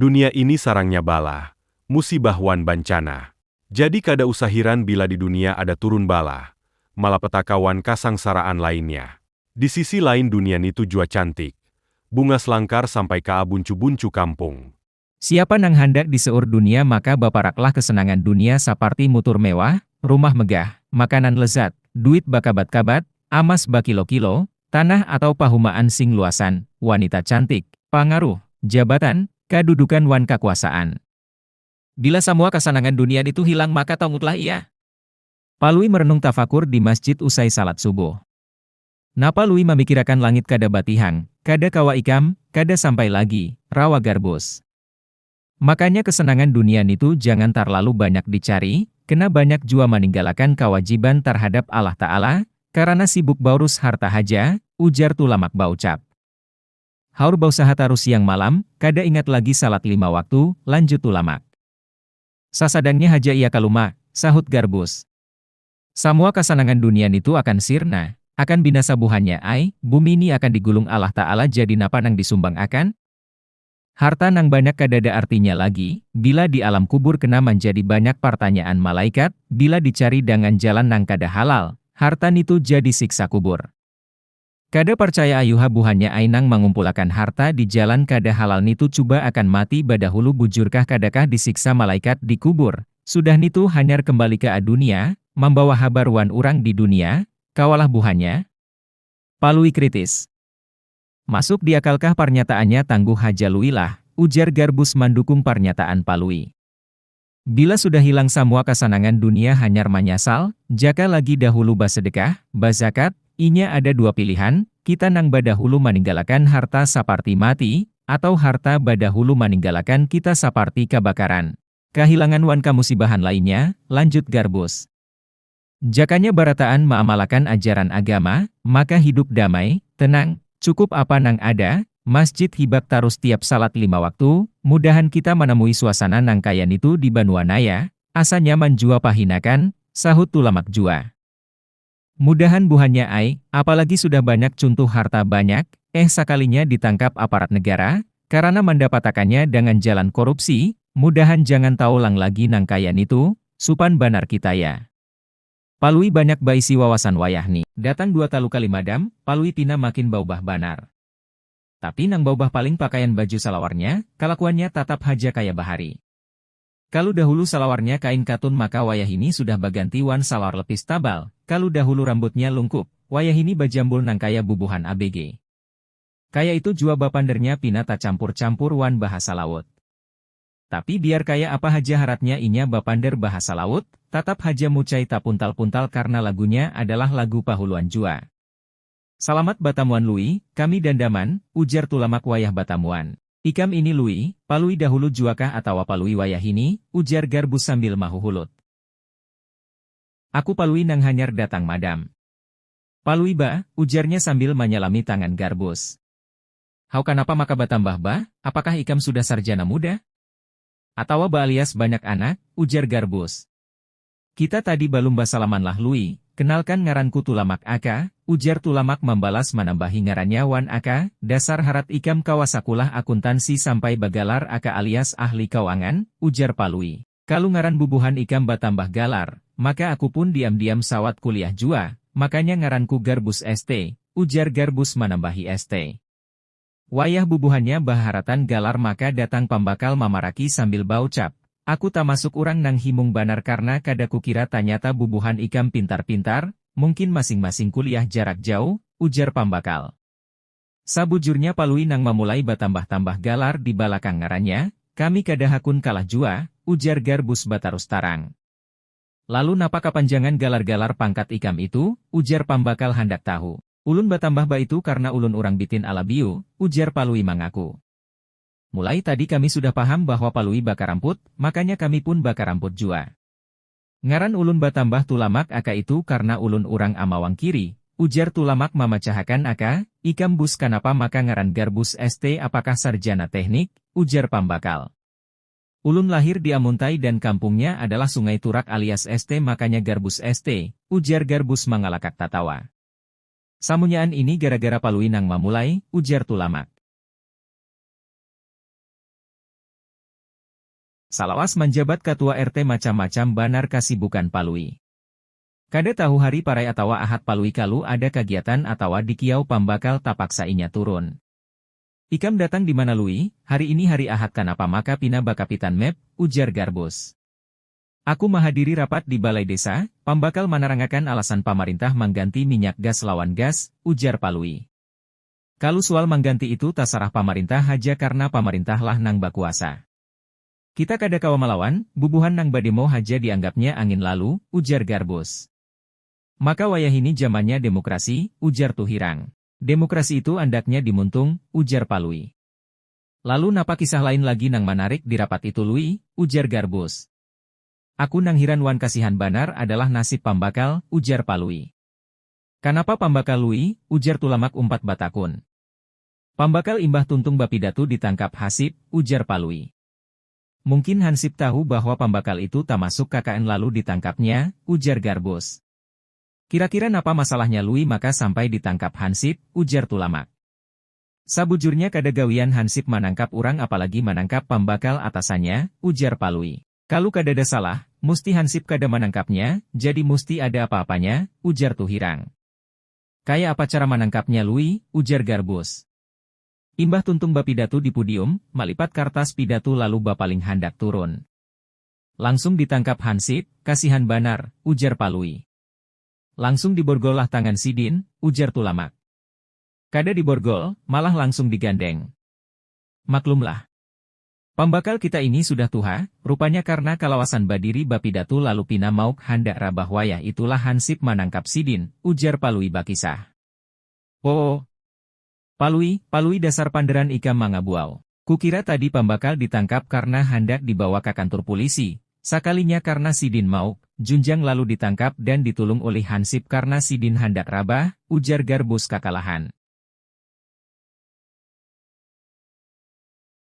Dunia ini sarangnya balah, musibah wan bancanah. Jadi kada usah hiran bila di dunia ada turun balah, malapetaka wan kasangsaraan lainnya. Di sisi lain dunia nitu jua cantik, bungas langkar sampai kaa buncu-buncu kampung. Siapa nang handak di seur dunia maka baparaklah kesenangan dunia saparti mutur mewah, rumah megah, makanan lezat, duit bakabat-kabat, amas bakilo-kilo, tanah atau pahumaan sing luasan, wanita cantik, pangaruh, jabatan, kadudukan wan kakuasaan. Bila samua kasanangan dunia nitu hilang maka tongutlah ia. Palui merenung tafakur di masjid usai salat subuh. Napa Lui mamikirakan langit kada batihan, kada kawa ikam, kada sampai lagi, rawa Garbus. Makanya kesenangan dunia nitu jangan tarlalu banyak dicari, kena banyak jua maninggalakan kawajiban tarhadap Allah Ta'ala, karana sibuk baurus harta haja, ujar Tulamak baucap. Haur bausaha tarus siang malam, kada ingat lagi salat lima waktu, lanjut Tulamak. Sasadangnya haja ia kalumak, sahut Garbus. Samua kasanangan dunia nitu akan sirna, akan binasa buhannya ai, bumi ni akan digulung Allah Ta'ala jadi napa nang disumbang akan? Harta nang banyak kadada artinya lagi, bila di alam kubur kena manjadi banyak partanyaan malaikat, bila dicari dangan jalan nang kada halal, harta nitu jadi siksa kubur. Kada parcaya ayuha buhannya ai nang mangumpulakan harta di jalan kada halal nitu cuba akan mati badahulu bujurkah kadakah disiksa malaikat di kubur sudah nitu hanyar kembali ke adunia mambawa habar wan urang di dunia kawalah buhannya Palui kritis masuk diakalkah parnyataannya tangguh haja lui lah ujar garbus mandukung parnyataan palui. Bila sudah hilang samua kasanangan dunia hanyar manyasal, jaka lagi dahulu basedekah, bazakat, inya ada dua pilihan, kita nang badahulu maninggalakan harta saparti mati, atau harta badahulu maninggalakan kita saparti kabakaran. Kahilangan wan kamusibahan lainnya, lanjut Garbus. Jakanya barataan maamalakan ajaran agama, maka hidup damai, tenang, cukup apa nang ada, masjid hibak tarus tiap salat lima waktu, mudahan kita manamui suasana nang kaya nitu di banua naya, asa nyaman jua pahinakan, sahut Tulamak jua. Mudahan buhannya ai, apalagi sudah banyak cuntuh harta banyak, eh sakalinya ditangkap aparat negara, karana mandapatakannya dangan jalan korupsi, mudahan jangan taulang lagi nang kaya nitu, Supan banar kita ya. Palui banyak baisi wawasan wayah ni. Datang dua talu kali madam, Palui pina makin baubah banar. Tapi nang baubah paling pakaian baju salawarnya, kalakuannya tatap haja kaya bahari. Kalu dahulu salawarnya kain katun maka wayahini sudah baganti wan salawar lepis tabal, kalu dahulu rambutnya lungkup, wayahini bajambul nang kaya bubuhan abg. Kaya itu jua bapandernya pina tacampur-campur wan bahasa laut. Tapi biar kaya apa haja haratnya inya bapander bahasa laut, tatap haja mucai tapuntal-puntal karna lagunya adalah lagu pahuluan jua. Salamat batamuan Lui, kami dandaman, ujar Tulamak wayah batamuan. Ikam ini Lui, Palui dahulu juakah atawa Palui wayahini, ujar Garbus sambil mahuhulut. Aku Palui nang hanyar datang madam. Palui bah, ujarnya sambil manyalami tangan Garbus. Haw kanapa maka batambah ba, apakah ikam sudah sarjana muda? Atawa baalias banyak anak? ujar Garbus. Kita tadi balum basalamanlah Lui, kenalkan ngaranku Tulamak aka, ujar Tulamak mambalas manambahi ngarannya wan aka, dasar harat ikam kawa sakulah akuntansi sampai bagalar aka alias ahli kauangan? ujar Palui. Kalu ngaran bubuhan ikam batambah galar, maka aku pun diam-diam sawat kuliah jua, makanya ngaranku Garbus ST, ujar Garbus manambahi ST. Wayah bubuhannya bahaharatan galar maka datang pambakal mamaraki sambil baucap, Aku tamasuk urang nang himung banar karna kada kukira tanyata bubuhan ikam pintar-pintar, mungkin masing-masing kuliah jarak jauh, ujar pambakal. Sabujurnya Palui nang mamulai batambah-tambah galar di balakang ngarannya, kami kada hakun kalah jua, ujar Garbus batarus tarang. Lalu napa kapanjangan galar-galar pangkat ikam itu? ujar Pambakal handak tahu. Ulun batambah baitu karna ulun urang Bitin Alabiu, ujar Palui mangaku. Mulai tadi kami sudah paham bahwa Palui bakaramput, makanya kami pun bakaramput jua. Ngaran ulun batambah Tulamak aka itu karna ulun urang Amawang Kiri, ujar Tulamak mamacahakan aka, ikam Bus kanapa maka ngaran Garbus ST apakah sarjana tehnik? ujar pambakal. Ulun lahir di Amuntai dan kampungnya adalah Sungai Turak alias ST makanya Garbus ST, ujar Garbus mangalakak tatawa. Samunyaan ini gara-gara Palui nang mamulai, ujar Tulamak. Salawas manjabat katua RT macam-macam banar kasibukan Palui. Kada tahu hari parai atawa ahad Palui kalu ada kagiatan atawa dikiau pambakal tapaksa inya turun. Ikam datang dimana Lui, hari ini hari ahad kanapa maka pina bakapitan map, ujar Garbus. Aku mahadiri rapat di balai desa, pambakal manarangakan alasan pamarintah mangganti minyak gas lawan gas, ujar Palui. Kalu sual mangganti itu tasarah pamarintah haja karna pamarintah lah nang bakuasa. Kita kada kawa malawan, bubuhan nang bademo haja dianggapnya angin lalu, ujar Garbus. Maka wayahini jamannya demokrasi, ujar Tuhirang. Demokrasi itu andaknya dimuntung, ujar Palui. Lalu napa kisah lain lagi nang manarik di rapat itu Lui? ujar Garbus. Aku nang hiran wan kasihan banar adalah nasib pambakal, ujar Palui. Kanapa pambakal Lui? ujar Tulamak Umpat batakun. Pambakal imbah tuntung bapidatu ditangkap Hasip, ujar Palui. Mungkin Hansip tahu bahwa pambakal itu tamasuk KKN lalu ditangkapnya, ujar Garbus. Kira-kira napa masalahnya Lui maka sampai ditangkap Hansip, ujar Tulamak. Sabujurnya kada gawian Hansip manangkap urang apalagi manangkap pambakal atasannya, ujar Palui. Kalu kadada salah, musti Hansip kada manangkapnya, jadi musti ada apa-apanya, ujar Tuhirang. Kaya apa cara manangkapnya Lui? ujar Garbus. Imbah tuntung bapidatu di pudium, malipat kartas pidatu lalu bapaling handak turun. Langsung ditangkap hansip, kasihan banar, ujar Palui. Langsung diborgol lah tangan sidin, ujar Tulamak. Kada diborgol, malah langsung digandeng. Maklum lah. Pambakal kita ini sudah tuha, rupanya karna kalawasan badiri bapidatu lalu pina mauk handak rabah wayah itulah hansip manangkap sidin, ujar Palui bakisah. Oo. Palui, Palui dasar panderan ikam mangabuau. Kukira tadi pambakal ditangkap karna handak dibawa ka kantur pulisi, sakalinya karna sidin mauk, junjang lalu ditangkap dan ditulung ulih hansip karna sidin handak rabah, ujar Garbus kakalahan.